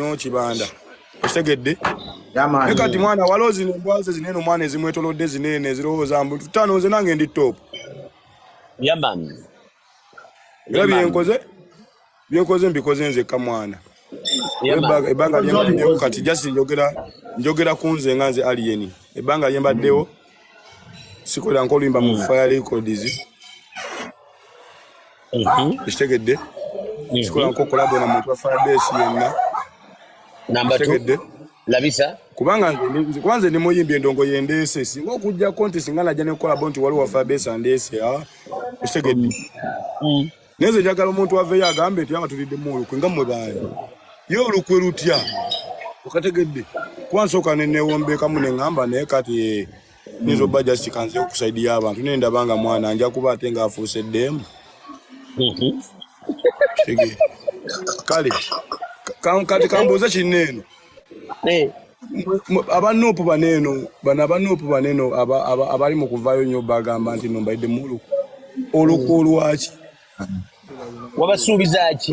nnyo kibanda okitegedde ne kati mwana waliwo zino embwaze zinene omwana ezimwetolodde zinene ezirowooza mbu tutaano nze nange ndi top yamani era byenkoze byenkoze mbikoze nzekka mwana ebbanga lyembaddewo kati just njogera njogera ku nze nga nze aliyeni ebbanga lyembaddewo sikolera nkoluyimba mu mm. fire records Mhm. Kitegedde. Mhm. Sikola nko kolabo na muntu afadesi yenna. Namba 2. Labisa. Kubanga nze kwanze ni muyimbi endongo yendeese singa okujja konti singa najja ne kolabo nti waliwo afadesi andeese ya. Ah. Kitegedde. Mm. Neze njagala omuntu aveyo agambe nti abatulidde mu olukwe nga mwe baani. Ye olukwe lutya? Okategedde. Kwansoka ne newombeekamu ne ngamba naye kati nyinza obba just kanze okusaidiya abantu naye ndaba nga mwana nja kuba ate ng'afuuse ddeemu kale kati kambuuze kinna eno eh. abanuupu bano eno bano abanuupu bano eno abali mu kuvaayo nnyo bagamba nti nombaidde mulu olukwo lwaki wabasuubiza ki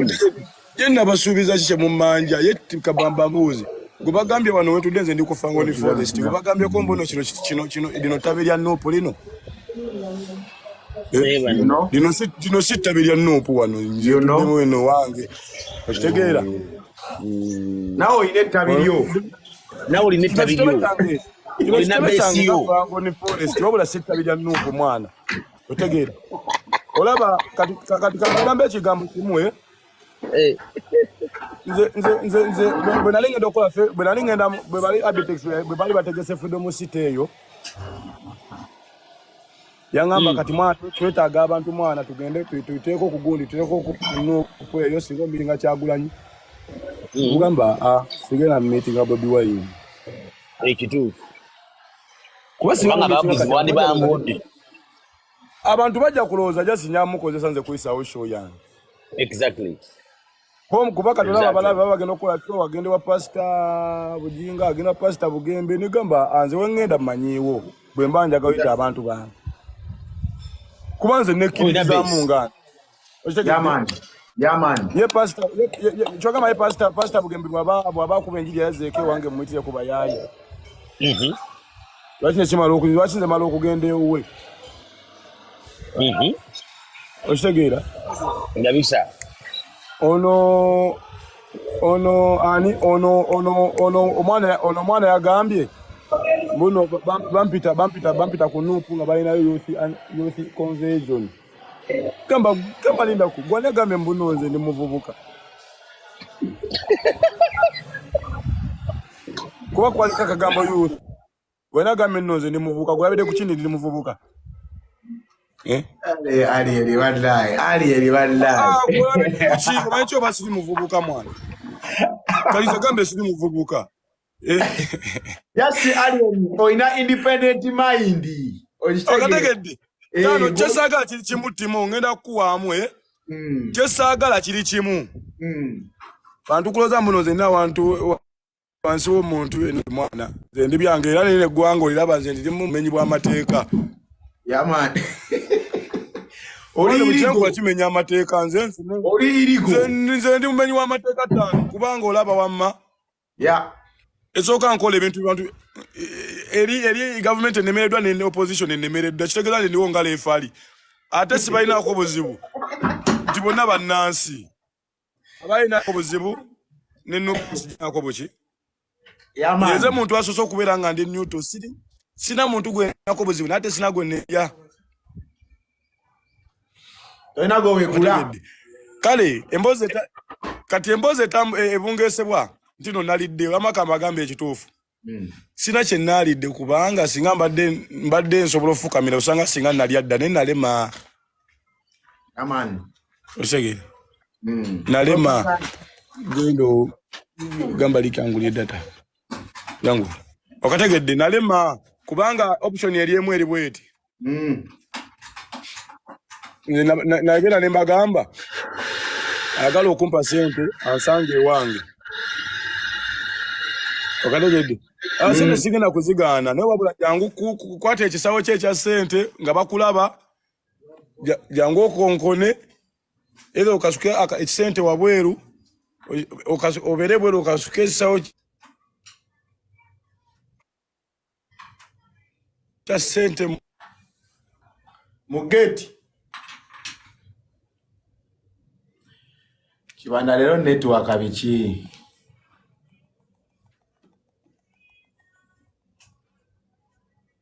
ye nabasuubiza ki kyemumanja ye kabamba mbuuzi gwebagambye wano wetudde nze ndikufangoni forest gwebagambyeko mbuno kino kino kino lino tabi lya nuupu lino eh, lino si tabi lya nuupu wano nzeno wange okitegeera mm. nawe olina ettabi lyo nawe olina ettabi lyo olina besiyo wabula si ettabi lya nuupu mwana otegeera olaba kati kati kagamba ekigambo kimu eh? Eh. nze nze nze nze bwe nali ngenda okola fe bwe nali ngenda bwe bali abitex bwe bali bategese freedom city eyo yangamba hmm. kati mwana twetaaga abantu mwana tugende tuteeko okugundi tuteeko okweyo singa omiringa kyagulanyi hmm. ogamba ah, sigenda mumitinga bobi wayini ekituufu kuba singa abantu bajja kulowooza just nyamukozesa nze kuyisaawo show yange exactly home kuba kati olaba abalabe baba bagenda okukola show agende wa pasita bujinga agenda wa pasita bugembe nigamba anze ah, wengenda manyiiwo bwe mba njagayita abantu bange kuba nze nekkiririzaamu nga kyogamba ye pasita pasita bugembe bwaba akuba enjiri yazeeko ewange mumuyitire ku bayaaye mhm. lwaki nekimala lwaki nze mala okugenda ewuwe mhm. okitegeera ndabisa ono ono ani ono ono ono omwana ono omwana yagambye mbuno bampita bampita bampita ku nuupu nga balinayo youth conversion mm -hmm. gamba gamba linda ku gwana gambe mbuno nze ni muvubuka kuba kwalika kagambo youth gwana gambe nno nze ni muvubuka gwabede kuchini ni muvubuka eh ali ali ali wallahi ali ali wallahi ah gwabede kuchini mwacho basi ni muvubuka mwana kaliza gambe si ni muvubuka yasi alien olina independent mind okategedde eh, kano kyesaagala kiri kimu timu ngenda kukuwaamu eh? hmm. kyesaagala kiri kimu hmm. bantu kuloza muno zenna awantu wansi womuntu eno mwana nze ndi byange era nene eggwanga oliraba nze ndiri mu bumenyi bw'amateeka yamani oliyirigwa kimenya amateeka nze nze ndi mumenyi w'amateeka tano kubanga olaba wamma yeah esooka nkola ebintu bantu eh, eri eri government enemereddwa ne opposition enemereddwa kitegeeza nti ndiwo ngalo efaali ate sibalinaako buzibu nti bonna bannansi abalinaako buzibu nenako buki eze muntu asoose okubeera nga ndi newto siri sina muntu gwenako buzibu naye ate sina gwe neya tolina gwewegula kale emboozi kati emboozi e, ebungesebwa nti no nalidde wamakamba agamba ekituufu hmm. sina kyenaalidde kubanga singa mbadde nsobola ofukamira osanga singa nalya dda naye nalema osegere hmm. nalema genda gamba likangulye data yangu okategedde nalema kubanga option yali emu eri bweti mm. nagenda ne mbagamba ayagala okumpa sente ansanga ewange okategedde ah, sente mm. sigenda kuzigaana naye wabula jangu kukwata ekisawo kye ekya sente nga bakulaba jangu okonkone Either okasuke ekisente wabweru obere bweru okasuke ekisawo kya sente mu geeti. Kibanda lero network biki?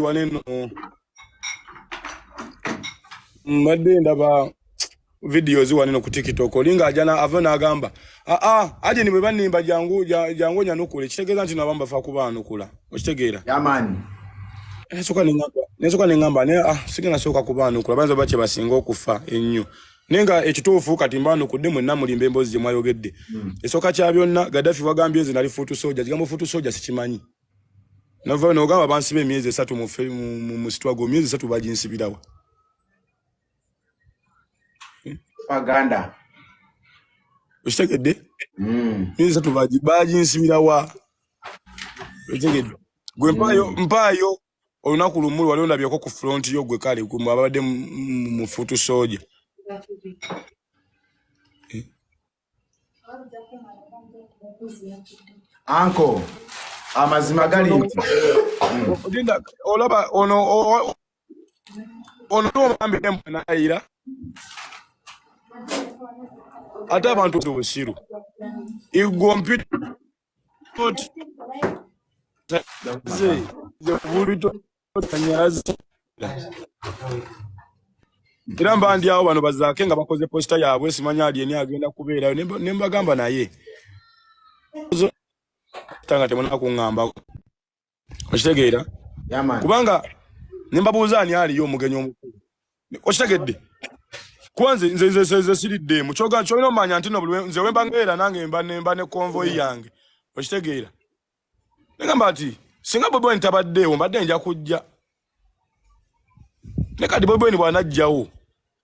wano eno mbadde ndaba videos wano eno ku tiktok olinga ajana ava n'agamba aa ah, ah, aje ni bwe bannimba jangu jangu onyanukula ekitegeeza nti nabo mbafa kuba anukula okitegeera yamaani nesoka neŋamba naye ah sigenda sooka kuba anukula bayinza oba kye basinga okufa ennyo naye nga ekituufu kati mbanukudde mwenna mulimba emboozi gye mwayogedde hmm. esooka kya byonna gaddafi wagambye nze nali fuutu soja kigambo fuutu soja sikimanyi navayo nogamba bansiba emyezi esatu musitwago myezi esatu baginsibirawa okitegedde hmm. myezi esatu baginsibirawa okitegedde gwe mpaayo olunaku lumu wali ondabyeko ku front yo gwe kale gwe ababadde mufutu soja eh? anko amazima gali nti linda olaba ono ono omambire mwanayira ate abantu obusiru igwo mpita era mba ndi awo bano bazaake nga bakoze posita yaabwe simanya ali eni agenda kubeerayo ne mbagamba naye tanga temunakuŋŋambako okitegeera kubanga nembabuuza ani aliyo omugenyi omukulu okitegedde kuba nze nze nze nze siridde mu kyoga kyolina omanya nti no nze wemba ngeera nange mba nemba ne convoy mm. yange okitegeera negamba nti singa bobi wine tabaddeewo mbadde nja kujja ne kati bobi wine bwanajjawo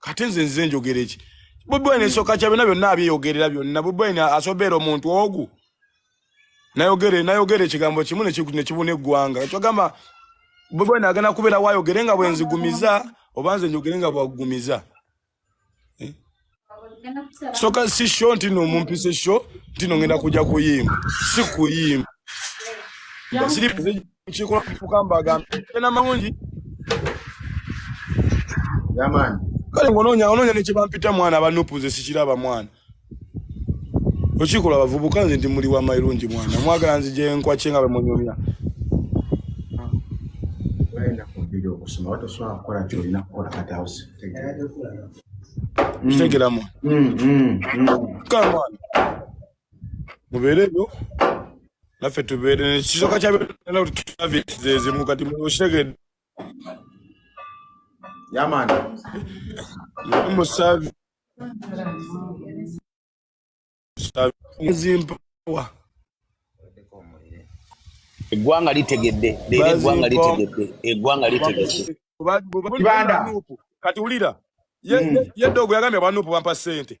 kate nze nze njogera eki bubwene esoka kya byona byonna abyeyogerera byonna bubwene asobeera omuntu ogu nayogere nayogere ekigambo kimu nekibuna eggwanga ekyogamba bubwene agenda kubeera wayogere nga bwenzigumiza oba nze njogere nga bwagumiza eh? soka si sho ntino mumpise sho ntino ngenda kujja kuyimba si kuyimba nkikola kufuka mbagambe tena malungi yamani kale ngononya ononya nekibampita mwana banupuze sikiraba mwana okikola abavubuka nze ndi muli wa mairungi mwana mwagala nzije nkwakye nga bemunyumya kitegeramu mm, mm, mm. kale mwana mubeere eyo naffe tubeere kisoka kyaezimu kati mukitegedde yamani musavi zimpawa eggwanga litegedde leero eggwanga litegedde eggwanga litegedde kibanda kati wulira yeddogo hmm. yagambye abanupu bampa sente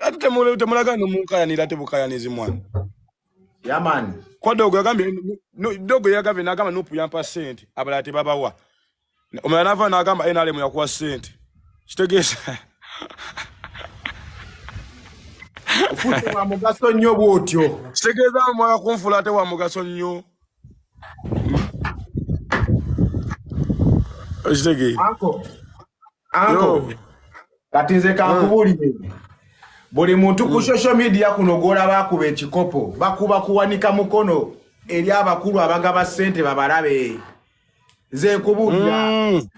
ate temulaga nomunkayanira ate bukayanizi mwana yamani kwa dogo yagambye dogo yagambye nagamba nupu yampa sente abalala tebabawa omala nava nagamba nrm yakuwa sente kitegeeza wa mugaso nnyo bwotyo kitegeeza mwala kunfula ate wa mugaso nnyo okitegeera anko kati nze kankubuulire ah. buli muntu ku hmm. social media kuno gwolaba akuba ekikopo bakuba kuwanika mukono eri abakulu abagaba sente babalabe nze nkubuulira hmm.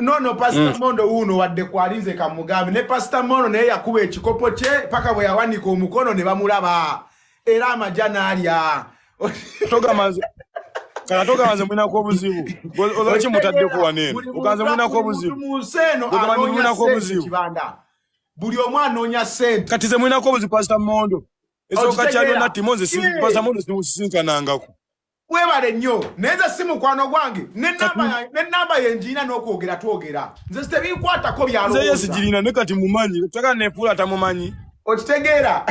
nono pasita hmm. mondo wuuno wadde kwali nze kamugambe ne pasita mondo naye yakuba ekikopo kye paka bwe yawanika omukono ne bamulaba era amaja nalya togamanze kala toganze mwina ko buzibu olwaki mutadde ko wanene oganze mwina ko buzibu oganze mwina ko buzibu buli omu anoonya sente kati ze mwina ko buzibu pastor mondo ezo kachalo na timonze si pastor mondo si sinkanangako webale nnyo naye nze si mukwano gwange nenamba yenjiina n'okwogera twogera nze sitebinkwatako byalowoozayesigirina ne kati mumanyi teka nefuula tamumanyi okitegeera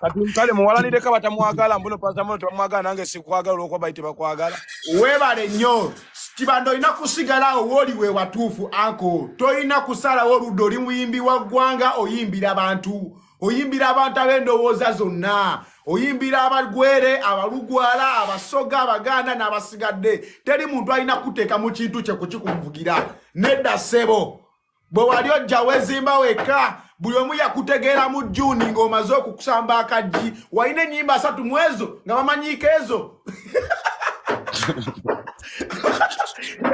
kati kale muwalanireko batamwagala mbuno pasamuno tebamwagala nange sikwagala olwokuba bali tebakwagala webale nnyo kibanda olina kusigalawo wooli we watuufu anko tolina kusalawo oludda oli muyimbi wa ggwanga oyimbira bantu oyimbira abantu ab'endowooza zonna oyimbira abagwere abalugwala abasoga abaganda n'abasigadde teri muntu alina kuteeka mu kintu kye kukikunvugira nedda ssebo bwe wali ojja wezimba wekka buli omu yakutegeera mu juuni ng'omaze okukusamba akaggi walina ennyimba asatu mu ezo nga bamanyiiko ezo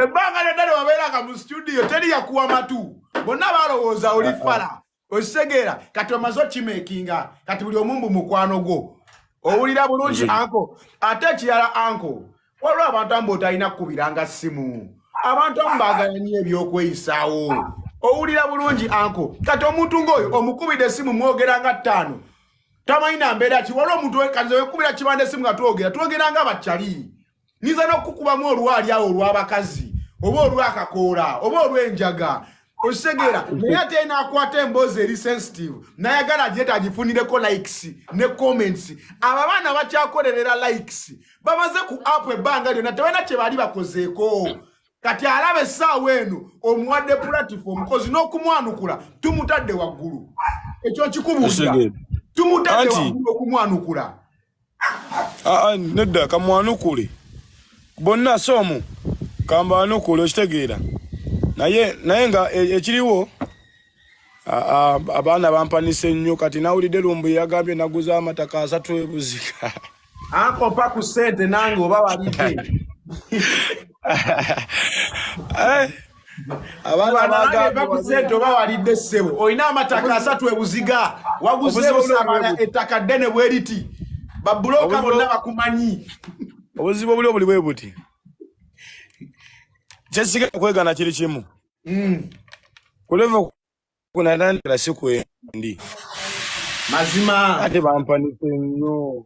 ebbanga lyonna ne wabeeranga mu situdiyo teri yakuwa matu bonna balowooza oli fala okitegeera kati omaze okimekinga kati buli omu mbu mukwano gwo owulira bulungi anko ate ekirala anko waliwo abantu amu botalina kukubiranga ssimu abantu amu baagala nyo ebyokweyisaawo owulira bulungi anko kati omuntu ngaoyo omukubidde essimu mwogera nga ttaano tamanyi nambeera ki waliwo omuntu kanze wekubira kibanda essimu nga twogera twogera nga bakyali nyinza n'okukubamu olwali awo olw'abakazi oba olw'akakoola oba olw'enjaga okitegeera naye ate naakwata emboozi eri sensitive nayagala agyeta agifunireko likes ne comments abo abaana bakyakolerera likes bamaze ku app ebbanga lyona tebalina kye baali bakozeeko kati alaba essaawa eno omuwadde platform kozi n'okumwanukula tumutadde waggulu ekyo nkikubuulira tumutadde waggulu okumwanukula aa nedda kamwanukule bonna si omu kambanukule okitegeera naye naye nga e, ekiriwo abaana bampanisa ennyo kati nawulidde lumbu yagambye naguza amataka asatu ebuzika akopa ku sente nange oba walidde eh? abaana bagambibagusente oba walidde ssebo olina amataka asatu ebuziga waguzeebusamala ettaka ddene bweriti babuloka bonna bakumanyi obuzibu obuli obuli bwe buti kyesiga okwegana kiri kimu hmm. kuleva kunatandikira si kwendi mazima ate bampanise nnyo